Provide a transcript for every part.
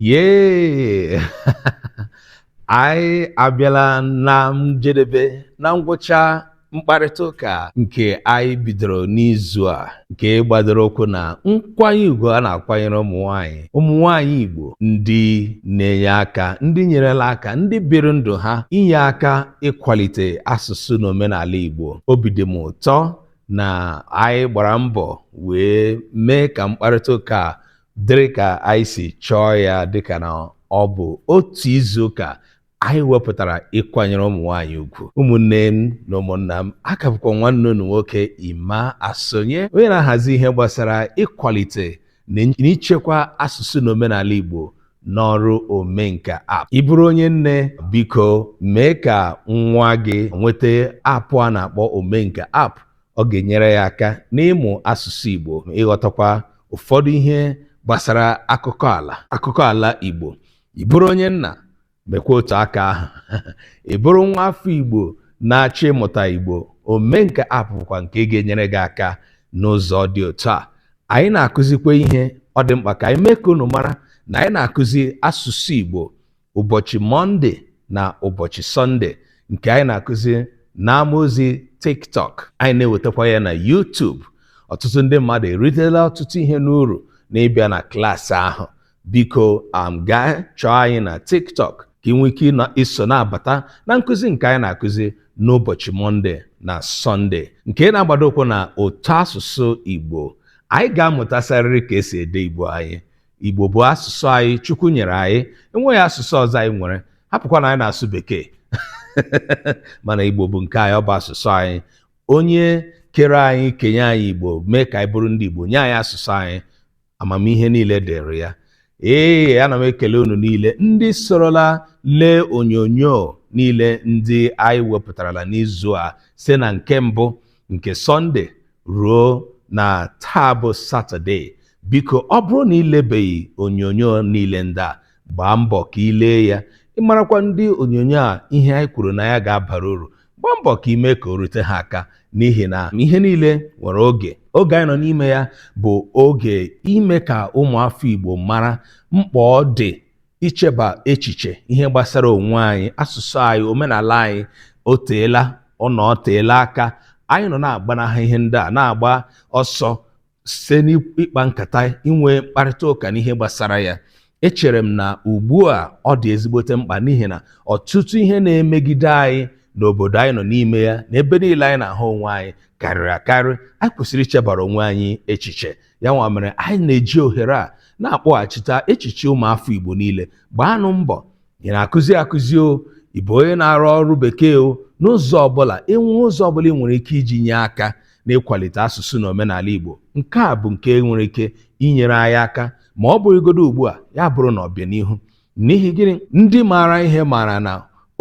yee anyị abịala na njedebe na ngwụcha mkparịta ụka nke anyị bidoro n'izu a nke gbadoro ụkwụ na nkwanye ugwu a na-akwanyere ụmụ nwanyị ụmụ nwanyị Igbo ndị na-enye aka ndị nyerela aka ndị biri ndụ ha inye aka ịkwalite asụsụ na omenala Igbo obi dị m ụtọ na anyị gbara mbọ wee mee ka mkparịta ụka dịrị ka anyị si chọọ ya dịka na ọ bụ otu izu ụka anyị wepụtara ịkwanyere ụmụ nwaanyị ugwu ụmụnne m na ụmụnna m ọ ka bụkwa nwanne unu nwoke Emma Asonye onye na-ahazi ihe gbasara ịkwalite na ichekwa asụsụ na omenala Igbo n'ọrụ omenka app ị bụrụ onye nne biko mee ka nwa gị nweta app a na-akpọ omenka app ọ ga-enyere ya aka n'ịmụ asụsụ Igbo ịghọtakwa ụfọdụ ihe gbasara akụkọ ala Igbo ị bụrụ onye nna mekwa otu aka ahụ ị bụrụ nwa afọ igbo na-achọ ịmụta igbo omenka app bụkwa nke ga-enyere gị aka n'ụzọ dị otu a anyị na-akụzikwa ihe ọ dị mkpa ka anyị mee ka unu mara na anyị na-akụzi asụsụ igbo ụbọchị mọnde na ụbọchị sọnde nke anyị na-akụzi n'ama ozi tiktok anyị na-ewetakwa ya na YouTube ọtụtụ ndị mmadụ eritela ọtụtụ ihe n'uru n'ịbịa na klaasị ahụ Biko um gaa chọọ anyị na TikTok ka ị nwee ike ịnọ iso na-abata na nkụzi nke anyị na-akụzi n'ụbọchị Mọnde na Sọnde nke na-agbado ụkwụ na ụtọ asụsụ Igbo. Anyị ga-amụtasarịrị ka e si ede Igbo anyị. Igbo bụ asụsụ anyị Chukwu nyere anyị, enweghị asụsụ ọzọ anyị nwere, hapụkwa na anyị na-asụ Bekee mana Igbo bụ nke anyị, ọ bụ asụsụ anyị. Onye kere anyị kenye anyị Igbo mee ka anyị bụrụ ndị Igbo nye anyị asụsụ anyị amamihe niile dịrị ya ee ana m ekele unu niile ndị sorola lee onyonyo niile ndị anyị wepụtarala n'izu a site na nke mbụ nke sọnde ruo na taa bụ satọde biko ọ bụrụ na i lebeghị onyonyo niile ndị a gbaa mbọ ka i lee ya ị marakwa ndị onyonyo a ihe anyị kwuru na ya ga-abara uru gbaa mbọ ka i mee ka o rute ha aka n'ihi na ihe niile nwere oge oge anyị nọ n'ime ya bụ oge ime ka ụmụafọ Igbo mara mkpa ọ dị icheba echiche ihe gbasara onwe anyị asụsụ anyị omenala anyị o teela ọ na o teela aka anyị nọ na-agbanaha ihe ndị a na-agba ọsọ site n'ịkpa nkata inwe mkparịta ụka n'ihe gbasara ya echere m na ugbu a ọ dị ezigbote mkpa n'ihi na ọtụtụ ihe na-emegide anyị n'obodo anyị nọ n'ime ya na ebe niile anyị na-ahụ onwe anyị karịrị akarị anyị kwesịrị ichebara onwe anyị echiche ya nwa mere anyị na-eji ohere a na-akpọghachita echiche ụmụafọ Igbo niile gbaanụ mbọ ị na-akụzi akụzi o ị bụ onye na-arụ ọrụ bekee o n'ụzọ ọbụla ịnwe ụzọ ọbụla ị nwere ike iji nye aka n'ịkwalite asụsụ na omenala Igbo nke a bụ nke nwere ike inyere anyị aka ma ọ bụrụgodo ugbu a ya bụrụ na ọbịanihu n'ihi gịnị ndị maara ihe maara na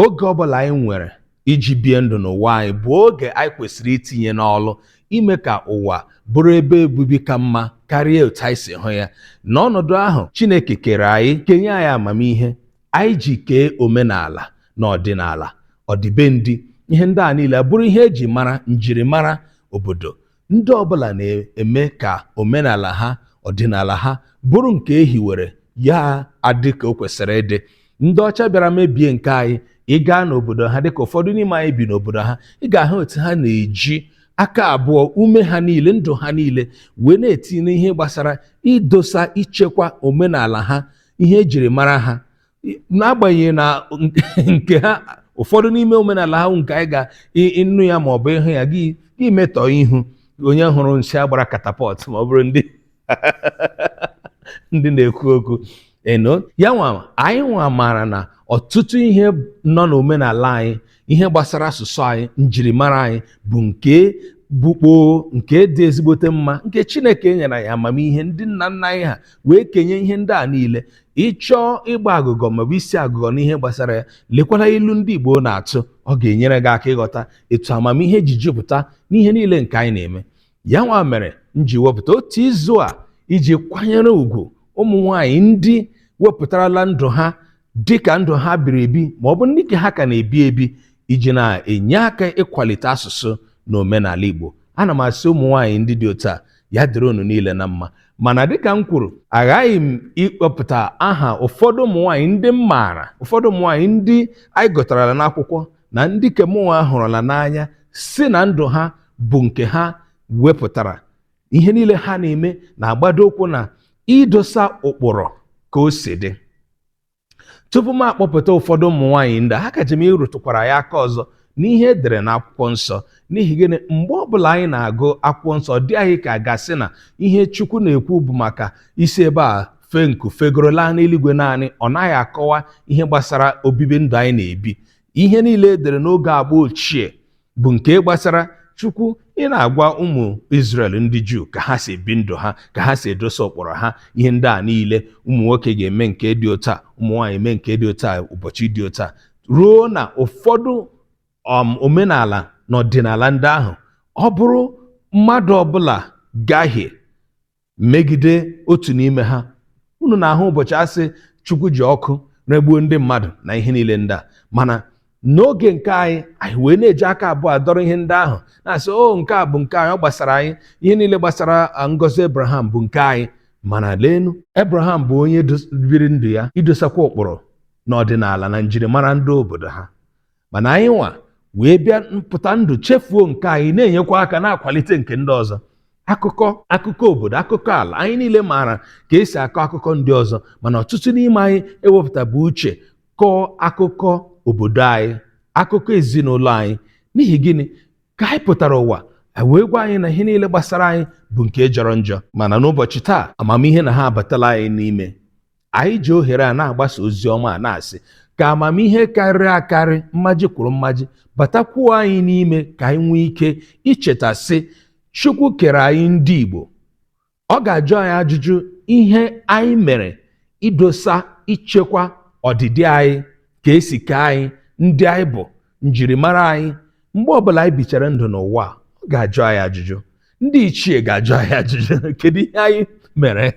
oge ọbụla anyị nwere iji bie ndụ n'ụwa anyị bụ oge anyị kwesịrị itinye n'ọlụ ime ka ụwa bụrụ ebe obibi ka mma karịa otu anyị si hụ ya n'ọnọdụ ahụ Chineke kere anyị kenye anyị amamihe anyị ji kee omenala na ọdịnala ọdịbendị ihe ndị a niile bụrụ ihe eji mara njirimara obodo Ndị ọbụla na-eme ka omenala ha, ọdịnala ha bụrụ nke e hiwere ya adị ka o kwesịrị ịdị. Ndị ọcha bịara mebie nke anyị. Ị gaa n'obodo ha, dịka ụfọdụ n'ime anyị bi n'obodo ha, ị ga-ahụ otu ha na-eji aka abụọ, ume ha niile, ndụ ha niile wee na-etinye ihe gbasara idosa, ichekwa omenala ha, ihe e jiri mara ha. n'agbanyeghị na nke ha ụfọdụ n'ime omenala ha nke anyị ga ị nụ ya ma ọ bụ ị hụ ya gị metọọ ihu onye hụrụ nsị a gbara katapọt ma ọ bụrụ ndị ndị na-ekwu okwu eno ya nwa anyị nwa maara na ọtụtụ ihe nọ n'omenala anyị ihe gbasara asụsụ anyị njirimara anyị bụ nke bụ kpoo nke dị ezigbote mma nke chineke nyere anyị amamihe ndị nna nna anyị ha wee kenye ihe ndị a niile ị chọọ ịgba agụgọ maọbụ isi agụgọ n'ihe gbasara ya lekwala ilu ndị igbo na-atụ ọ ga-enyere gị aka ịghọta etu amamihe ji jupụta n'ihe niile nke anyị na-eme ya nwa mere m ji wepụta otu izu a iji kwanyere ugwu ụmụ nwaanyị ndị wepụtarala ndụ ha dị ka ndụ ha biri ebi ma ọ bụ ndị ke ha ka na-ebi ebi iji na-enye aka ịkwalite asụsụ na omenala Igbo ana m asị ụmụ nwaanyị ndị dị otu a ya dịrị unu niile na mma mana dịka m kwuru aghaghị m ịkpọpụta aha ụfọdụ ụmụ nwaanyị ndị m maara ụfọdụ ụmụ nwaanyị ndị anyị gụtarala n'akwụkwọ na ndị ke mụnwa hụrụla n'anya sị na ndụ ha bụ nke ha wepụtara ihe niile ha na-eme na-agbado ụkwụ na idosa ụkpụrụ ka o si dị tupu m akpọpụta ụfọdụ ụmụ nwaanyị ndị a akaji m ịrụtụkwara ya aka ọzọ n'ihe e dere n'akwụkwọ nsọ n'ihi gịnị mgbe ọbụla anyị na-agụ akwụkwọ nsọ ọ dị anyị ka a ga-asị na ihe chukwu na-ekwu bụ maka isi ebe a fee nku fegoro laa n'eluigwe naanị ọ naghị akọwa ihe gbasara obibi ndụ anyị na-ebi ihe niile e dere n'oge agba ochie bụ nke gbasara chukwu ị na-agwa ụmụ Izrel ndị Juu ka ha si ebi ndụ ha ka ha si edosa ụkpụrụ ha ihe ndị a niile ụmụ nwoke ga-eme nke dị otu a ụmụ nwaanyị eme nke dị otu a ụbọchị dị otu a ruo na ụfọdụ um, omenala na ọdịnala ndị ahụ ọ bụrụ mmadụ ọbụla gahie megide otu n'ime ha unu na-ahụ ụbọchị a sị chukwu ji ọkụ regbuo ndị mmadụ na ihe niile ndị a mana n'oge nke anyị anyị wee na-eji aka abụọ adọrọ ihe ndị ahụ na-asị o nke a bụ nke anyị ọ gbasara anyị ihe niile gbasara ah, ngọzi Abraham bụ nke anyị mana leenu Abraham bụ onye dos- biri ndụ ya idosakwa ụkpụrụ na ọdịnala na njirimara ndị obodo ha mana anyị nwa wee bịa mpụta ndụ chefuo nke anyị na-enyekwa aka na-akwalite nke ndị ọzọ akụkọ akụkọ obodo akụkọ ala anyị niile maara ka e si akọ akụkọ ndị ọzọ mana ọtụtụ n'ime anyị ewepụtabu uche kọọ akụkọ obodo anyị akụkọ ezinụlọ anyị n'ihi gịnị ka anyị pụtara ụwa a wee gwa anyị na ihe niile gbasara anyị bụ nke jọrọ njọ mana n'ụbọchị taa amamihe na ha abatala anyị n'ime Anyị ji ohere a na-agbasa ozi ọma a na-asị ka amamihe karịrị akarị mmaji kwuru mmaji batakwuo anyị n'ime ka anyị nwee ike icheta sị Chukwu kere anyị ndị Igbo ọ ga-ajụ anyị ajụjụ ihe anyị mere idosa ichekwa ọdịdị anyị ka e si kee anyị ndị anyị bụ njirimara anyị mgbe ọbụla anyị bichara ndụ n'ụwa ọ ga-ajụ anyị ajụjụ ndị ichie ga-ajụ anyị ajụjụ kedu ihe anyị mere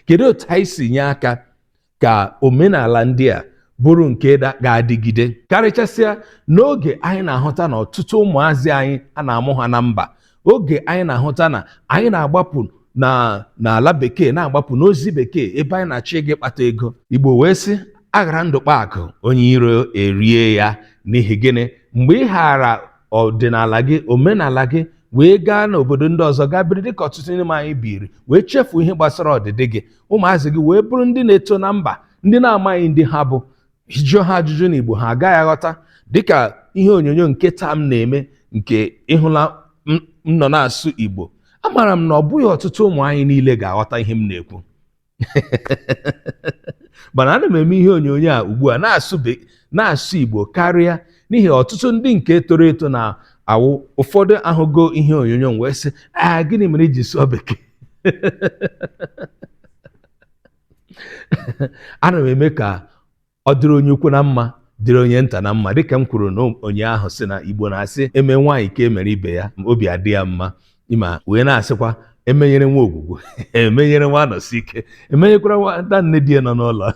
kedu otu anyị si nye aka ka omenala ndị a bụrụ nke da- ga-adịgide karịchasịa n'oge anyị na-ahụta na ọtụtụ ụmụazị anyị a na-amụ ha na mba oge anyị na-ahụta na anyị na-agbapụ n'ala bekee na-agbapụ n'ozi bekee ebe anyị na-achọ ịga ịkpata ego igbo wee sị a ghara ndụ kpaa akụ onye iro erie ya n'ihi gịnị mgbe ị ghara ọdịnala gị omenala gị wee gaa n'obodo ndị ọzọ gaa biri dịka ọtụtụ n'ime anyị biri wee chefuo ihe gbasara ọdịdị gị ụmụazị gị wee bụrụ ndị na-eto na mba ndị na-amaghị ndị ha bụ jụọ ha ajụjụ n'Igbo ha agaghị aghọta dịka ihe onyonyo nke taa m na-eme nke ị hụla m nọ na-asụ Igbo amaara m na ọ bụghị ọtụtụ ụmụ anyị niile ga-aghọta ihe m na-ekwu mana ana m eme ihe onyonyo a ugbu a na-asụ Igbo karịa n'ihi ọtụtụ ndị nke toro eto na-awụ ụfọdụ ahụgo ihe onyonyo m wee sị a gịnị mere i ji sụọ bekee ana m eme ka ọ dịrị onye ukwu na mma dịrị onye nta na mma dịka m kwuru n'ụnyaahụ sị na igbo na-asị e mee nwaanyị ka e mere ibe ya obi adị ya mma ma wee na-asịkwa emenyere nwa ogwugwu emenyere nwa anosike emenyekwara nwata nne di ya nọ n'ụlọ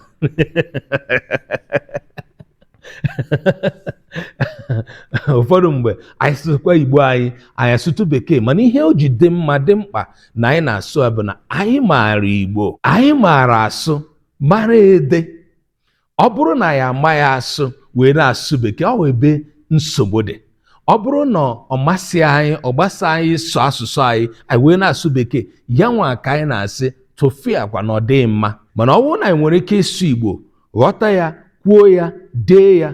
ụfọdụ mgbe anyị sụkwa igbo anyị anyị asụtụ bekee mana ihe o ji dị mma dị mkpa na anyị na-asụ bụ na anyị maara igbo anyị maara asụ mara ede ọ bụrụ na anyị amaghị asụ wee na-asụ bekee ọ ebe nsogbu dị ọ bụrụ na ọ masị anyị ọ gbasa anyị ịsụ asụsụ anyị anyị wee na-asụ bekee ya nwa ka anyị na-asị tụfịakwa na ọ dịghị mma mana ọ bụrụ na anyị nwere ike ịsụ igbo ghọta ya kwuo ya dee ya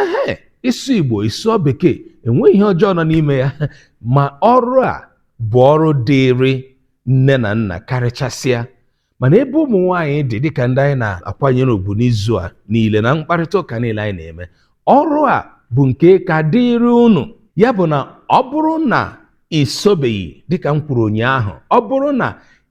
ehe ịsụ igbo ị sụọ bekee enweghị ihe ọjọọ nọ n'ime ya ma ọrụ a bụ ọrụ dịịrị nne na nna karịchasịa ma n'ebe ụmụ nwaanyị dị dịka ndị anyị na-akwanyere ugwu n'izu a niile na mkparịta ụka niile anyị na-eme ọrụ a bụ nke ka dịịrị unu ya bụ na ọ bụrụ na i sobeghị dịka m kwuru ụnyaahụ ọ bụrụ na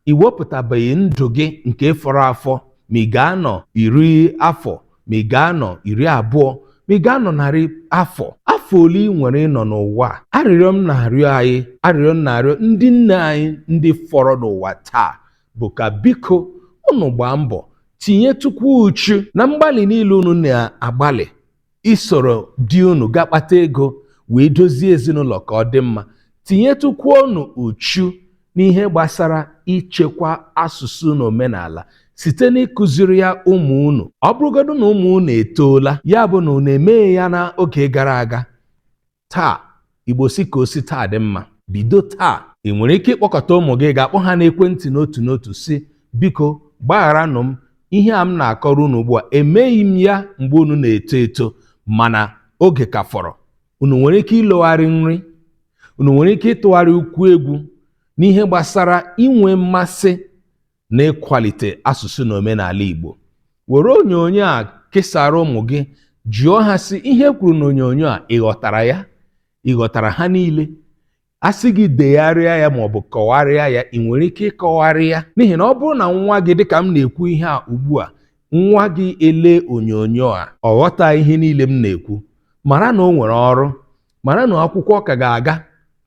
ị wepụtabeghị ndụ gị nke fọrọ afọ ma ị ga-anọ iri afọ ma ị ga-anọ iri abụọ ma ị ga-anọ narị afọ afọ ole ị nwere ịnọ n'ụwa a arịrịọ m na-arịọ anyị arịrịọ m na-arịọ ndị nne anyị ndị fọrọ n'ụwa taa bụ ka biko unu gbaa mbọ tinyetụkwu uchu na mgbalị niile unu na-agbalị isoro di unu ga kpata ego wee dozie ezinụlọ ka ọ dị mma tinyetụkwa unu uchu n'ihe gbasara ichekwa asụsụ na omenala site n'ịkụziri ya ụmụ unu ọ bụrụgodu na ụmụ unu etoola ya bụ na unu emeghị ya n'oge gara aga taa igbo sị ka o si taa dị mma bido taa ị nwere ike ịkpọkọta ụmụ gị ga-akpọ ha n'ekwentị n'otu n'otu sị biko gbagharanụ m ihe a m na-akọrọ unu ugbu a emeghị m ya mgbe unu na-eto eto mana oge ka fọrọ unu nwere ike ịlogharị nri unu nwere ike ịtụgharị ụkwụ egwu n'ihe gbasara inwe mmasị n'ịkwalite asụsụ na omenala Igbo were onyonyo a kesara ụmụ gị jụọ ha sị ihe e kwuru n'onyonyo a ị ghọtara ya ị ghọtara ha niile a sị gị degharịa ya ma ọ bụ kọgharịa ya ị nwere ike ịkọgharị ya n'ihi na ọ bụrụ na nwa gị dịka m na-ekwu ihe a ugbu a nwa gị elee onyonyo a ọ ghọta ihe niile m na-ekwu mara na o nwere ọrụ mara na akwụkwọ ka ga-aga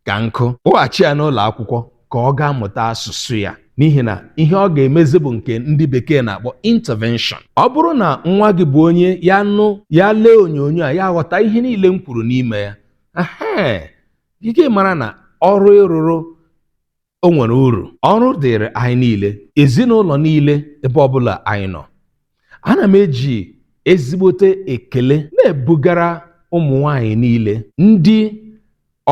ka nkụ kpọghachi ya n'ụlọ akwụkwọ ka ọ gaa mụta asụsụ ya n'ihi na ihe ọ ga-emezi bụ nke ndị bekee na-akpọ intervention ọ bụrụ na nwa gị bụ onye ya nụ ya lee onyonyo a ya aghọta ihe niile m kwuru n'ime ya ehe gị mara na ọrụ ị rụrụ o nwere uru ọrụ dịrị anyị niile ezinụlọ niile ebe ọbụla anyị nọ ana m eji ezigbote ekele na-ebugara ụmụ nwanyị niile ndị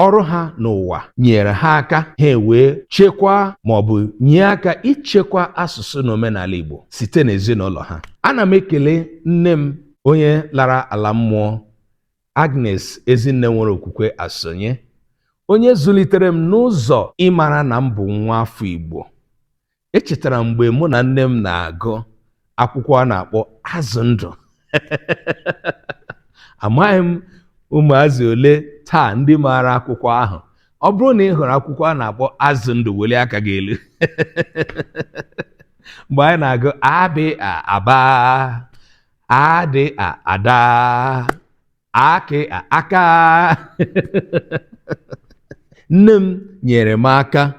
ọrụ ha n'ụwa nyere ha aka ha ewee chekwaa ma ọ bụ nye aka ichekwa asụsụ na omenala Igbo site n'ezinụlọ ha ana m ekele nne m onye lara ala mmụọ Agnes Ezinne nwere okwukwe Asonye, onye zụlitere m n'ụzọ ịmara na m bụ nwa afọ Igbo. Echetara m mgbe mụ na nne m na-agụ akwụkwọ a na-akpọ Azụ Ndụ. Amaghị m ụmụazị ole taa ndị maara akwụkwọ ahụ. Ọ bụrụ na ị hụrụ akwụkwọ a na-akpọ Azụ Ndụ welie aka gị elu. Mgbe anyị na-agụ a bị a aba a dị a ada a kị a aka nne m nyere m aka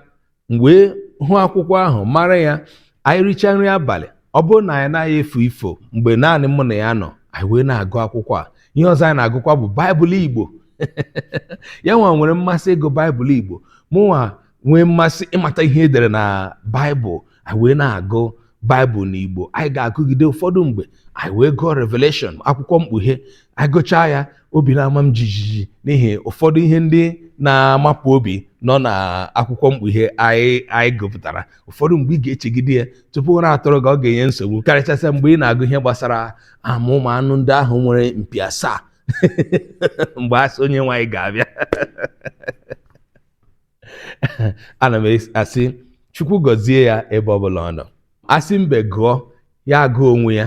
m wee hụ akwụkwọ ahụ mara ya anyị richaa nri abalị ọ bụrụ na anyị anaghị efo ifo mgbe naanị mụ na ya nọ anyị wee na-agụ akwụkwọ a ihe ọzọ anyị na-agụkwa bụ baịbụl igbo ya nwa nwere mmasị ịgụ baịbụl igbo mụnwa nwee mmasị ịmata ihe e dere na baịbụl anyị wee na-agụ baịbụl n'igbo anyị ga-agụgide ụfọdụ mgbe anyị wee gụọ revelation akwụkwọ mkpughe anyị gụchaa ya obi na-ama m jijiji n'ihi ụfọdụ ihe ndị na-amapụ obi nọ na akwụkwọ mkpughe anyị anyị gụpụtara ụfọdụ mgbe ị ga-echegide ya tupu ụra atụrụ gị ọ ga-enye nsogbu karịchasịa mgbe ị na-agụ ihe gbasara ụmụ anụ ndị ahụ nwere mpi asaa mgbe a sị onye nwaanyị ga-abịa ana m asị chukwu gọzie ya ebe ọbụla ọ nọ a sị mbe gụọ ya agụọ onwe ya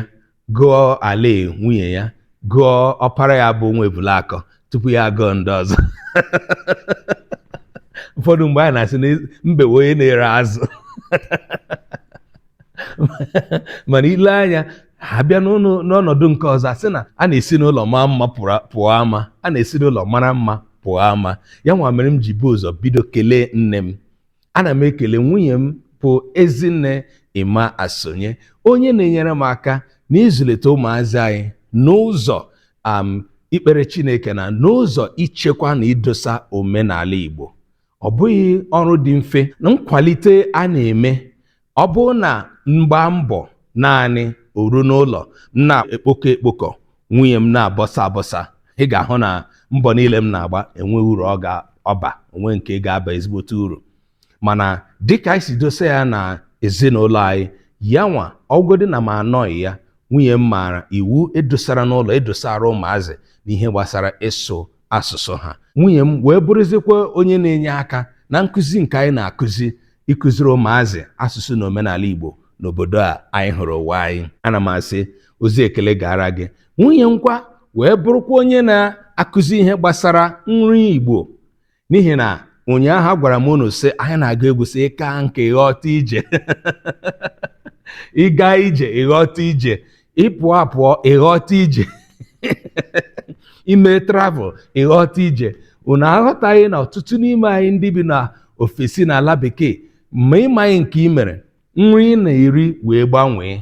gụọ alịa nwunye ya gụọ ọpara ya bụ nwa ebulakọ tupu ya agụọ ndị ọzọ ụfọdụ mgbe anyị na-asị na mbe onye na-ere azụ mana i lee anya a bịa n'ụlọ- n'ọnọdụ nke ọzọ a sị na a na-esi n'ụlọ maa mma pụrụ- pụọ ama a na-esi n'ụlọ mara mma pụọ ama ya nwa mere m ji bu ụzọ bido kelee nne m ana m ekele nwunye m bụ ezinne emma asonye onye na-enyere m aka n'ịzụlite ụmụazị anyị n'ụzọ um, ikpere chineke na n'ụzọ ichekwa na idosa omenala igbo ọ bụghị ọrụ dị mfe na nkwalite a na-eme ọ bụrụ na m gbaa mbọ naanị o ruo n'ụlọ m na-ekpokọ ekpokọ nwunye m na-abọsa abọsa ị ga-ahụ na mbọ niile m na-agba enweghị uru ọ ga-aba o nweghị nke ga-aba ezigbote uru mana dịka anyị si dosa ya na ezinụlọ anyị ya nwa ọ bụgodi na m anọghị ya nwunye m maara iwu e dosara n'ụlọ e dosara ụmụazị n'ihe gbasara ịsụ asụsụ ha nwunye m wee bụrụzikwa onye na-enye aka na nkụzi nke anyị na-akụzi ịkụziri ụmụazị asụsụ na omenala Igbo n'obodo a anyị hụrụ ụwa anyị ana m asị ozi ekele gara gị nwunye m kwa wee bụrụkwa onye na-akụzi ihe gbasara nri Igbo n'ihi na ụnyaahụ agwara m unu sị anyị na-agụ egwu sị ị kaa nka ị ghọta ije ị gaa ije ị ghọta ije ị pụọ apụọ ị ghọta ije i mee travel ị ghọta ije unu aghọtaghị na ọtụtụ n'ime anyị ndị bi na ofesi na ala bekee ma ị maghị nke i mere nri ị na-eri wee gbanwee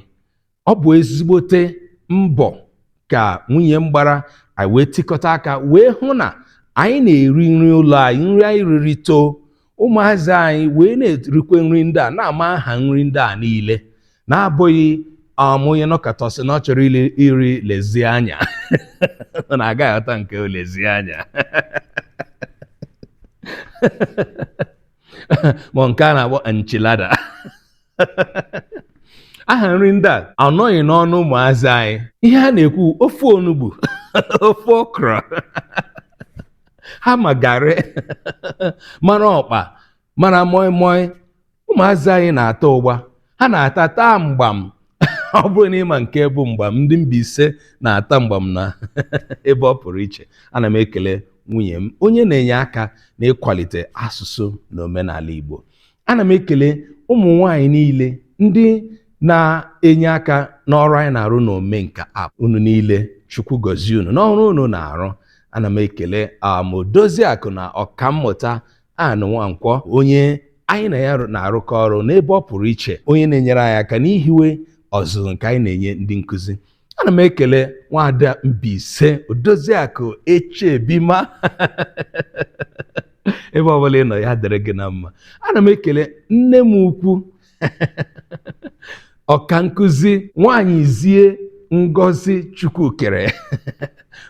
ọ bụ ezigbote mbọ ka nwunye m gbara anyị wee tikọta aka wee hụ na anyị na-eri nri ụlọ anyị nri anyị riri too ụmụazị anyị wee na-erikwe nri ndị a na-ama aha nri ndị a niile na-abụghị um, onye nọkata sị na ọ chọrọ ili iri lasagna na agaghị aghọta nke bụ lasagna ma nke a na-akpọ enchilada aha nri ndị a anọghị n'ọnụ ụmụazị anyị ihe ha na-ekwu ofe onugbu ofe okra ha ma garị mara ọkpa mara moi moi ụmụazị anyị na-ata ụgba ha na-ata taa mgbam ọ bụrụ na ị ma nke bụ mgbam ndị Mbaise na-ata mgbam na ebe ọ pụrụ iche ana m ekele nwunye m onye na-enye aka n'ịkwalite asụsụ na omenala Igbo ana m ekele ụmụ nwaanyị niile ndị na-enye aka n'ọrụ anyị na-arụ na omenka app unu niile chukwu gọzie unu n'ọrụ unu na-arụ ana m ekele em, Odoziakụ na ọkammụta anụ nwankwọ onye anyị na ya na-arụkọ ọrụ n'ebe ọ pụrụ iche onye na-enyere anyị aka n'ihiwe ọzụzụ nke anyị na-enye ndị nkụzi ana m ekele nwaada Mbaise Odoziakụ Echebima ebe ọbụla ị nọ ya dịrị gị na mma ana m ekele nne m ukwu ọka nkụzi nwanyị zie Ngozi Chukwukere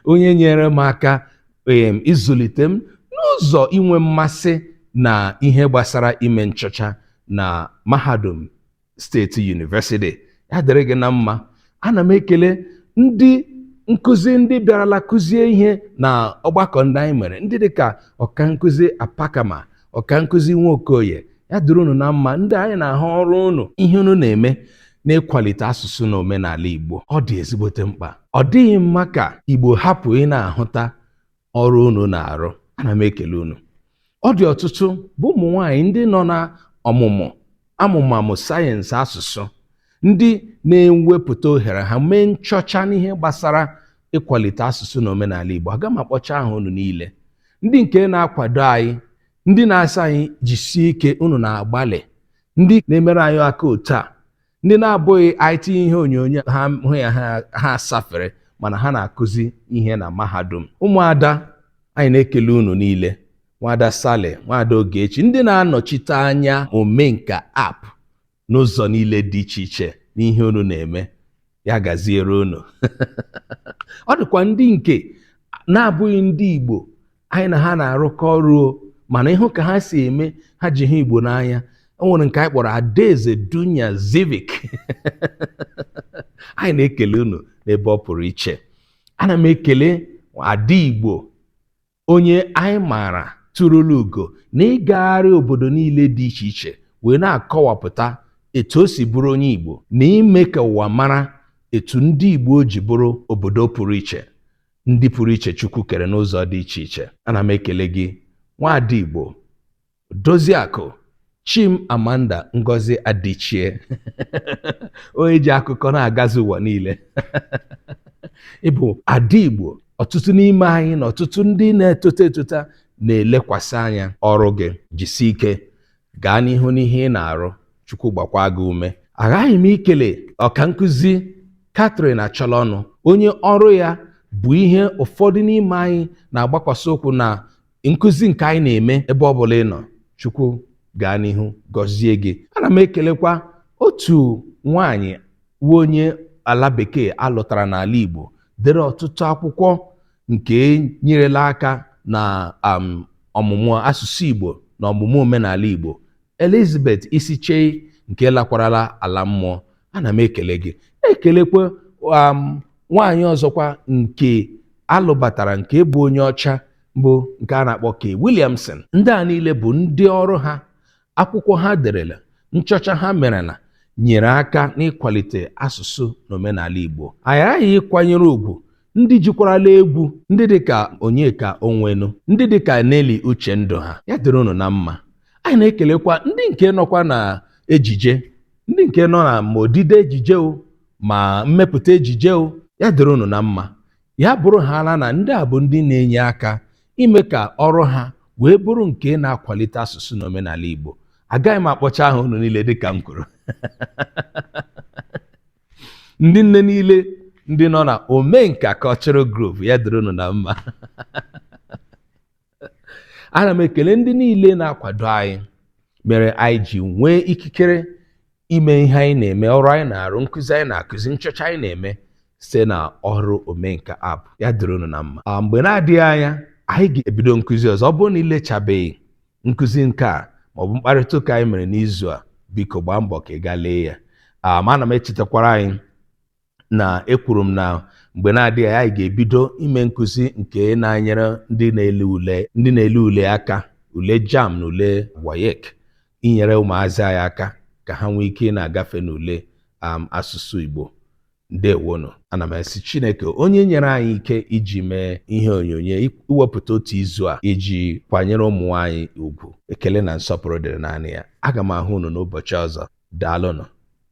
onye nyere m aka em, ịzụlite m n'ụzọ inwe mmasị na ihe gbasara ime nchọcha na mahadum State University ya dịrị gị na mma ana m ekele ndị nkụzi ndị bịarala kụzie ihe na ọgbakọ ndị anyị mere ndị dịka ọka nkụzi apakama ọka nkụzi Nwokoye ya dịrị unu na mma ndị anyị na-ahụ ọrụ unu ihe unu na-eme n'ịkwalite asụsụ na omenala igbo ọ dị ezigbote mkpa ọ dịghị mma ka igbo hapụ ị na-ahụta ọrụ unu na-arụ ana m ekele unu ọ dị ọtụtụ bụ ụmụ nwanyị ndị nọ na ọmụmụ amụmamụ sayensị asụsụ ndị na-ewepụta ohere ha mee nchọcha n'ihe gbasara ịkwalite asụsụ na omenala Igbo aga m akpọcha aha unu niile ndị nke na-akwado anyị ndị na-asị anyị jisie ike unu na-agbalị ndị na-emere anyị aka otu a ndị na-abụghị anyị tinye ihe onyonyo ha hụ ya ha asafere mana ha na-akụzi ihe na mahadum ụmụada anyị na-ekele unu niile nwaada Sale nwaada Ogechi ndị na-anọchite anya omenka app n'ụzọ niile dị iche iche n'ihe unu na-eme ya gaziere unu ọ dịkwa ndị nke na-abụghị ndị igbo anyị na ha na-arụkọ ọrụ o mana ị hụ ka ha si eme ha ji hụ igbo n'anya o nwere nke anyị kpọrọ adaeze dunya zivik anyị na-ekele unu n'ebe ọ pụrụ iche ana m ekele ada igbo onye anyị maara tụrụla ugo na ịgagharị obodo niile dị iche iche wee na-akọwapụta etu o si bụrụ onye igbo na ime ka ụwa mara etu ndị igbo ji bụrụ obodo pụrụ iche ndị pụrụ iche Chukwu kere n'ụzọ dị iche iche ana m ekele gị nwaada Igbo Odoziakụ Chimamanda Ngozi Adichie onye ji akụkọ na-agazi ụwa niile ị bụ ada Igbo ọtụtụ n'ime anyị na ọtụtụ ndị na-etota etota na-elekwasị anya ọrụ gị jisi ike Gaa n'ihu n'ihe ị na-arụ. Chukwu gbakwaa gị ume. Aghaghị m ikele ọkankụzi Catherine Achọlọnụ, onye ọrụ ya bụ ihe ụfọdụ n'ime anyị na-agbakwasị ụkwụ na nkụzi nke anyị na-eme ebe ọ bụla ị nọ. Chukwu gaa n'ihu gọzie gị. Ana m ekelekwa otu nwaanyị wu onye ala bekee a lụtara n'ala Igbo, dere ọtụtụ akwụkwọ nke nyerela aka na um, ọmụmụ asụsụ Igbo na ọmụmụ omenala Igbo Elizabeth Isichei nke lakwarala ala mmụọ ana m ekele gị ekelekwa um, nwaanyị ọzọkwa nke a lụbatara nke bụ onye ọcha bụ nke a na-akpọ Kay Williamson ndị a niile bụ ndị ọrụ ha Akwụkwọ ha derela, nchọcha ha merela nyere aka n'ịkwalite asụsụ na omenala Igbo. Anyị aghaghị ịkwanyere ugwu ndị jikwarala egwu, ndị dị ka Onyeka Onwenu, ndị dị ka Nelly Uchendụ ha. Ya dịrị unu na mma. Anyị na-ekelekwa ndị nke nọkwa na ejije, ndị nke nọ na ma odide ejije o, ma mmepụta ejije o. Ya dịrị unu na mma. ya bụrụhaala na ndị a bụ ndị na-enye aka ime ka ọrụ ha wee bụrụ nke na-akwalite asụsụ na omenala Igbo agaghị m akpọcha aha unu niile dịka m kwuru ndị nne niile ndị nọ na omenka cultural group ya dịrị unu na mma ana m ekele ndị niile na-akwado anyị mere anyị ji nwee ikikere ime ihe anyị na-eme ọrụ anyị na-arụ nkụzi anyị na-akụzi nchọcha anyị na-eme site na ọrụ omenka app ya dịrị unu na mma ah, mgbe na-adịghị anya anyị ga-ebido nkụzi ọzọ ọ bụrụ na i lechabeghị nkụzi nke a maọbụ mkparịta ụka anyị mere n'izu a biko gbaa mbọ ka ị gaa lee ya ah, ma ana m echetakwara anyị na ekwuru m na mgbe na-adịghị anya anyị ga-ebido ime nkụzi nke na-enyere ndị na-ele ule aka ule JAMB na ule WAEC inyere ụmụazị anyị aka ka ha nwee ike ị na-agafe n'ule um, asụsụ Igbo ndewonu ana m esi chineke onye nyere anyị ike iji mee ihe onyonyo iwepụta otu izu a iji kwanyere ụmụ nwaanyị ugwu ekele na nsọpụrụ dịrị naanị ya aga m ahụ unu n'ụbọchị ọzọ daalụnụ